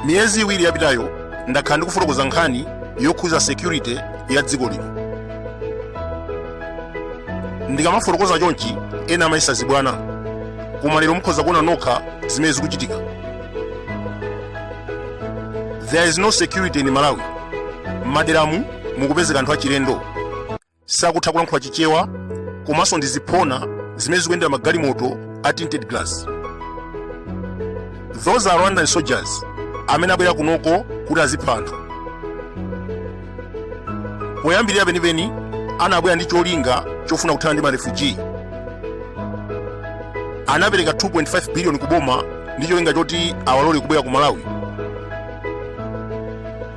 miyezi iwiri yapitayo ndakhala ndikufotokoza nkhani yokhudza security ya dziko lino ndikamafotokoza chonchi ena amayesa zibwana koma lero mukhoza kuona nokha zimene zikuchitika there is no security in malawi m'maderamu mukupezeka anthu achilendo sakutha kulankhula chichewa komanso ndi ziphona zimene zikuyendera magalimoto a tinted glass those are rwandan soldiers amene abwera kunoko kuti azipha anthu poyambirira penipeni anabwera ndi cholinga chofuna kuthana ndi marefugee anapereka 2.5 biliyoni ku boma ndi cholinga choti awalole kubwera ku malawi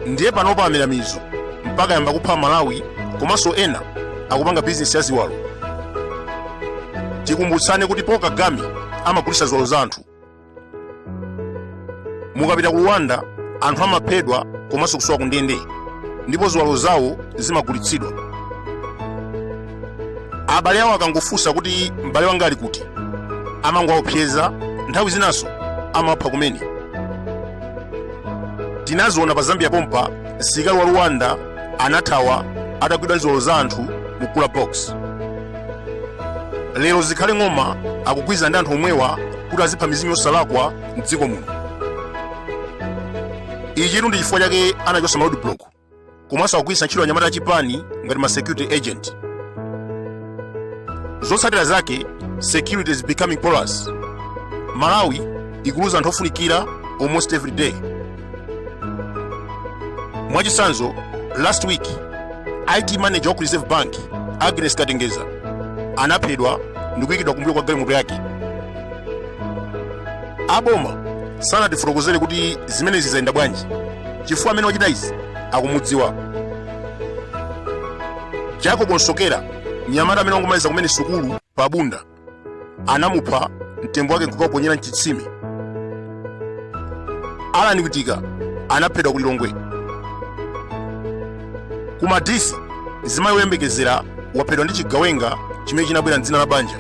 ndiye panopa amera mizu mpaka ayamba kupha amalawi komanso ena akupanga bizinesi ya ziwalo tikumbutsane kuti paul kagame amagulitsa ziwalo za anthu mukapita ku rwanda anthu amaphedwa komanso kusowa ku ndende ndipo ziwalo zawo zimagulitsidwa abale awo akangofunsa kuti m'bale wanga ali kuti amangowaopseza nthawi zinanso amawapha kumene tinaziona pa zambia pompa msilikali wa rwanda anathawa atagwidwa ndi ziwalo za anthu mu cooler box lero zikhale ng'oma akugwirizana ndi anthu omwewa kuti azipha mizimu yosalakwa mdziko muno ichitu ndi chifukwa chake anachotsa ma roadblock komanso akugwiritsa ntchito anyamata a chipani ngati ma security agent zotsatira zake security is becoming porous malawi ikuluza anthu ofunikira almost every day mwachitsanzo last week it manager wa ku reserve bank agnes katengeza anaphedwa ndikuyikidwa kumbuyo kwa galimoto yake aboma sanatifotokozere kuti zimenezi zayenda bwanji chifukwa amene wachita izi akumudziwa jacob nsokera mnyamata amene wangomaliza kumene sukulu pa bunda anamupha mtembo wake nkukaponyera mchitsime alan witika anaphedwa ku lilongwe ku madisi mzimayi woyembekezera waphedwa ndi chigawenga chimene chinabwera mdzina la banja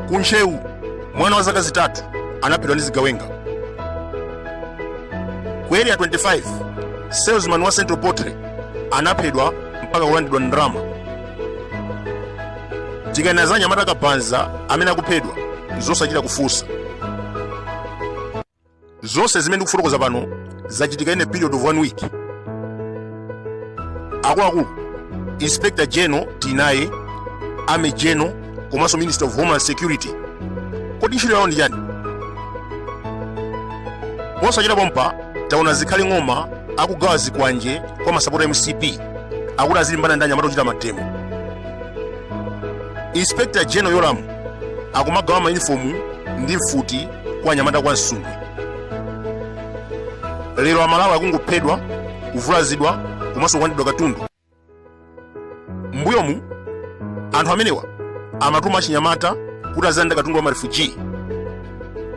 ku ntcheu mwana wa zaka zitatu anaphedwa ndi zigawenga ku area 25 salesman wa central poultry anaphedwa mpaka kulandidwa ndalama tikanena za anyamata akabanza amene akuphedwa zosachita kufunsa zonse zimene ndikufotokoza pano zachitika in a period of one week akuluakulu inspector general tinaye army general komanso minister of homeland security kodi ntchito yawo ndi chani posachita pompa taona Zikhale ng'oma akugawa zikwanje kwa masapota mcp akuti azilimbana ndi anyamata ochita mademo inspector general yolamu akumagawa mayunifomu ndi mfuti kwa anyamata kwa Nsundwe lero amalawi akungophedwa kuvulazidwa komanso kulandidwa katundu mbuyomu anthu amenewa amatuma achinyamata kuti azilanda katundu wa marefuji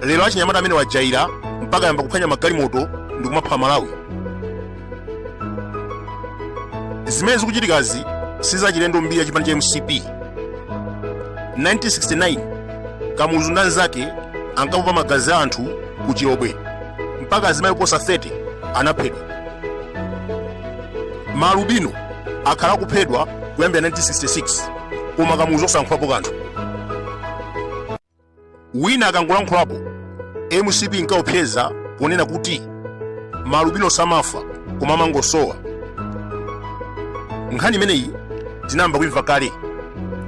lero achinyamata amenewa ajaira mpaka ayamba kuphwanya magalimoto ndi kumapha amalawi zimene zikuchitikazi sizachilendo mbiri ya chipani cha mcp 1969 kamuzu ndi anzake ankapopa magazi a anthu ku chilobwe mpaka azimayi oposa 30 anaphedwa maalubino akhala akuphedwa kuyambira 1966 koma kamuzu osalankhulapo kanthu wina akangolankhulapo mcp inkaopseza ponena kuti malubino samafa koma amangosowa nkhani imeneyi tinayamba kuimva kale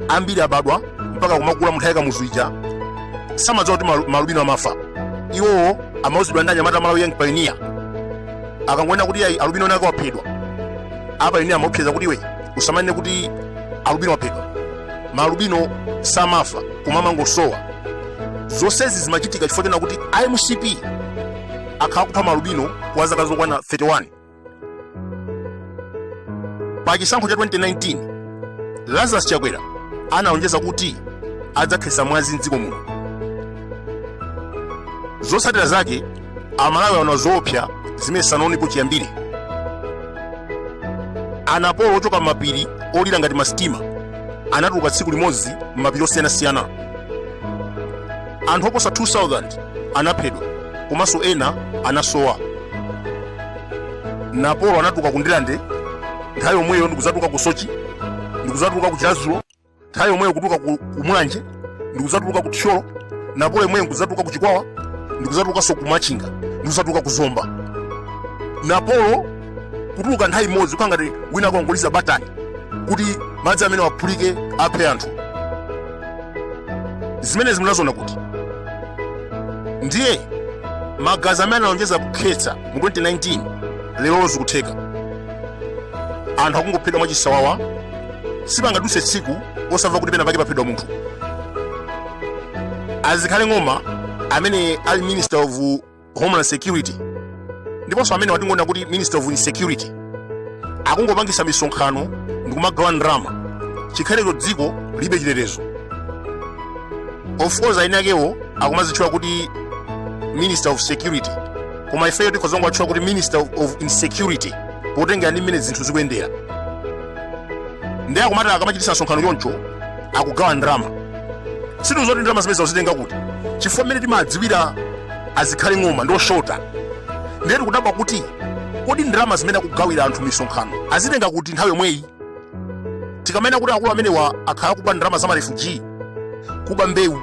ambiri abadwa mpaka kumakula munthawi ya kamuzu ija samadziwa kuti malubino amafa iwowo amauzidwa ndi anyamata a malawi young pioneer akangonena kuti ayi alubino nake waphedwa apayoniya amaopseza kuti iwe usamanene kuti alubino waphedwa malubino samafa koma amangosowa zonsezi zimachitika chifukwa chonena kuti a mcp akhala akupha malubino kwa zaka zokwana 31 pa chisankho cha 2019 lazarus chakwera analonjeza kuti adzakhetsa mwazi mdziko muno zotsatira zake amalawi anaona zoopsa zimene sanaonepo chiyambire anapolo ochoka m'mapiri olira ngati masitima anatuluka tsiku limodzi m'mapiri osiyanasiyana anthu oposa 2000 anaphedwa komanso ena anasowa napolo anatuluka ku ndilande nthawi yomweyo ndikudzatuluka ku sochi ndikudzatuluka ku chiradzulu nthawi yomweyo kutuluka ku mulanje ndikudzatuluka ku thyolo napolo yomweyo ndikudzatuluka ku chikwawa ndikudzatulukanso ku machinga ndikudzatuluka ku zomba napolo kutuluka nthawi imodzi kukhala ngati wina akongoliza batani kuti madzi amenewa aphulike aphe anthu zimenezi munaziona kuti ndiye magazi amene analonjeza kukhetsa mu 2019 lero zikutheka anthu akungophedwa mwachisawawa sipangaduse tsiku osamva kuti pena pake paphedwa munthu a zikhale ng'oma amene ali minister of homeland security ndiponso amene kwatingonena kuti minister of insecurity akungopangisa misonkhano ndikumagawa ndrama chikhalecho dziko lilibe chitetezo of course eni akewo akumazitchula kuti minister of security koma ifeyo tikhoza kungowatchula kuti minister of insecurity potengera ndi mmene zinthu zikuyendera ndiye akumati akamachitisa msonkhano choncho akugawa ndalama sitidziwa kuti ndalama zimenezo akuzitenga kuti chifukwa mmene timadziwira a zikhale ng'oma ndi oshota ndiye tikudabwa kuti kodi ndalama zimene akugawira anthu misonkhano azitenga kuti nthawi yomweyi tikamanena kuti akulu amenewa akhala akuba ndalama za marefuji kuba mbewu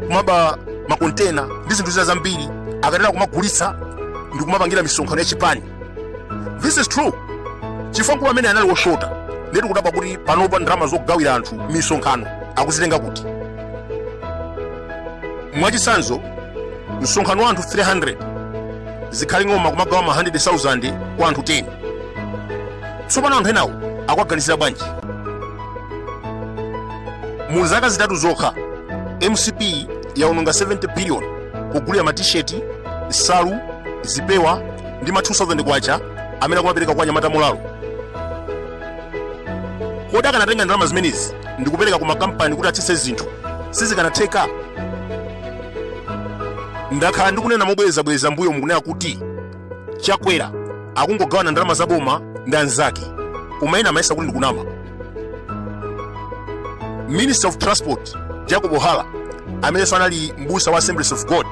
kumaba makontena ndi zinthu zina zambiri akatero kumagulitsa ndi kumapangira misonkhano ya chipani this is true chifukwa mkulu ameneyu anali woshota ndiye tikudabwa kuti panopa ndalama zogawira anthu misonkhano akuzitenga kuti mwachitsanzo msonkhano wa anthu 300 zikhale ng'oma kumagawa ma 100,000 kwa anthu 10 tsopano anthu enawo akuwaganizira bwanji mu zaka zitatu zokha mcp yaononga 70 billion kugulira matisheti nsalu zipewa ndi ma 2000 kwacha amene akumapereka kwa anyamata mulalo kodi akanatenga ndalama zimenezi ndi kupereka ku makampani kuti atsitse zinthu sizikanatheka ndakhala ndikunena mobwerezabwereza mbuyomu kunena kuti chakwera akungogawana ndalama za boma ndi anzake koma ena amayesa kuti ndikunama minister of transport jacob hara amenenso anali mbusa wa assemblies of god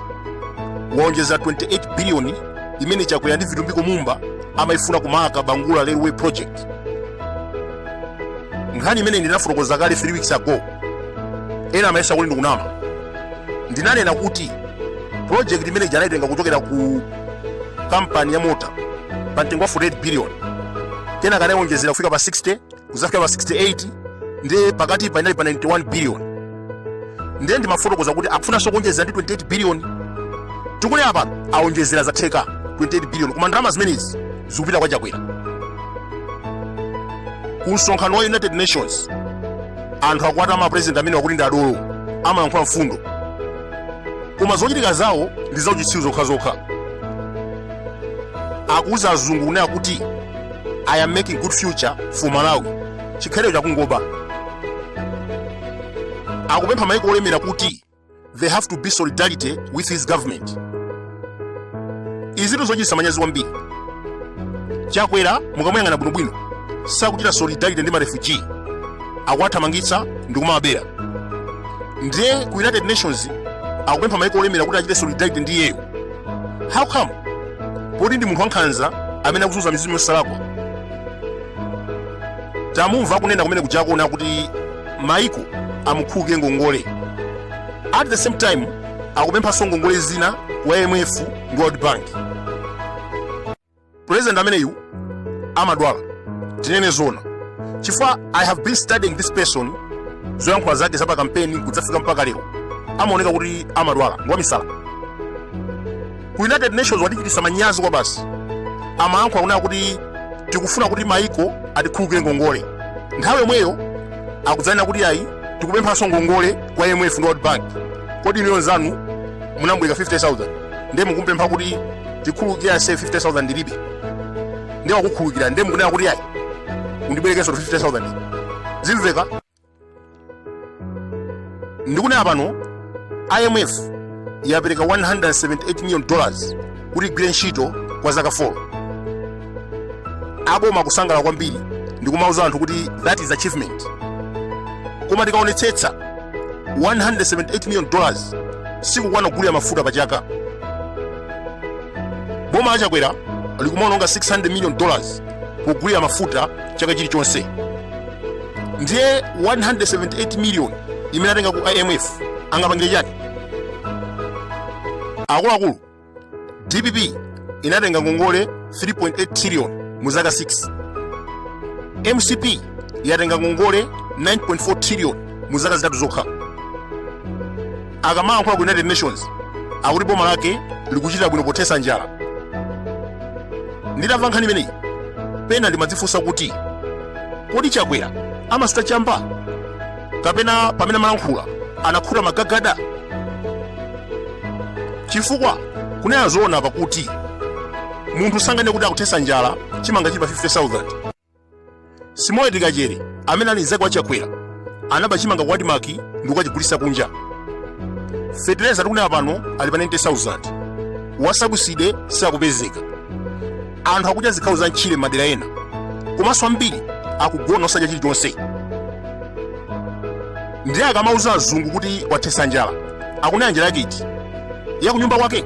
waonjeza 28 biliyoni imene chakwera ndi vitumbiko mumba amayifuna ku marka bangula railway project nkhani imeneyi ndinafotokoza kale 3 weeks ago ena amayesa kuti ndikunama ndinanena kuti project imene ija anayitenga kuchokera ku kampani ya mota pa mtengo wa 48 billion kenaka anayonjezera kufika pa 60 kuzafika pa 68 ndiye pakatipa inali pa 91 billion ndiye ndimafotokoza kuti akufunanso kuonjezera ndi 28 billion tikunena pano aonjezera zatheka 28 billion koma ndalama zimenezi zikupita kwa chakwera ku msonkhano wa united nations anthu akuwatama president ameneyu akuti ndi adolo amalankhula mfundo koma zochitika zawo ndi zauchitsiru zokhazokha akuuza azungu kunena kuti i am making good future for malawi chikhalirecho akungoba akupempha maiko olemera kuti they have to be solidarity with his government izi ndi zochititsa manyazi kwambiri chakwera mukamuyang'ana bwinobwino sakuchita solidarity ndi marefuji akuwathamangitsa ndi kumawabera ndiye ku united nations akupempha maiko olemera kuti achite solidarity ndi iyeyo how come poti ndi munthu wankhanza amene akuzunza mizimu yosalakwa tamumva akunena kumene kuja akunena kuti maiko amukhululukire ngongole at the same time akupemphanso ngongole zina ku IMF ndi World Bank. President ameneyu amadwala tinene zona chifukwa I have been studying this person zoyankhula zake za pa kampeni kudzafika mpaka lero amaoneka kuti amadwala ngwamisala ku united nations watichititsa manyazi kwabasi amayankhula kunena kuti tikufuna kuti maiko atikhululukire ngongole nthawi yomweyo akudzanena kuti ayi tikupemphanso ngongole kwa imf ndi world bank kodi inu mnzanu munambwereka 50000 ndiye mukumpempha kuti tikhululukire ase 50000 ndilibe ndiye wakukhululukira ndiye mukunena kuti ayi undibwerekenso 50000 zimveka ndikunena pano imf yapereka 178 million dollars kuti igwire ntchito kwa zaka 4 aboma kusangalala kwambiri ndikumauza anthu kuti that is achievement koma tikaonetsetsa 178 million dollars sikukwana kugulira mafuta pa chaka boma la chakwera likumaononga 600 million dollars pogulira mafuta chaka chilichonse ndiye 178 million imene atenga ku imf angapangire chani akuluakulu dpp inatenga ngongole 3.8 trillion mu zaka 6 mcp yatenga ngongole 9.4 trillion mu zaka zitatu zokha akamayankhula ku united nations akuti boma lake likuchita bwino pothetsa njala nditamva nkhani imeneyi pena ndimadzifunsa kuti kodi chakwera amasuta chamba kapena pamene amalankhula anakhuta magagada chifukwa kunena zoona pake munthu sanganene kuti akuthetsa njala chimanga chili pa 50000 sam kawale amene ali mzake wa chakwera anaba chimanga ku admarc ndikukachigulisa kunja fetereza tikunena pano ali pa 90000 wa subsidy sakupezeka anthu akudya zikhawo za mtchire mmadera ena komanso ambiri akugona osadya chilichonse ndiye akamauza azungu kuti wathetsa njala akunena njala yake iti yakunyumba kwake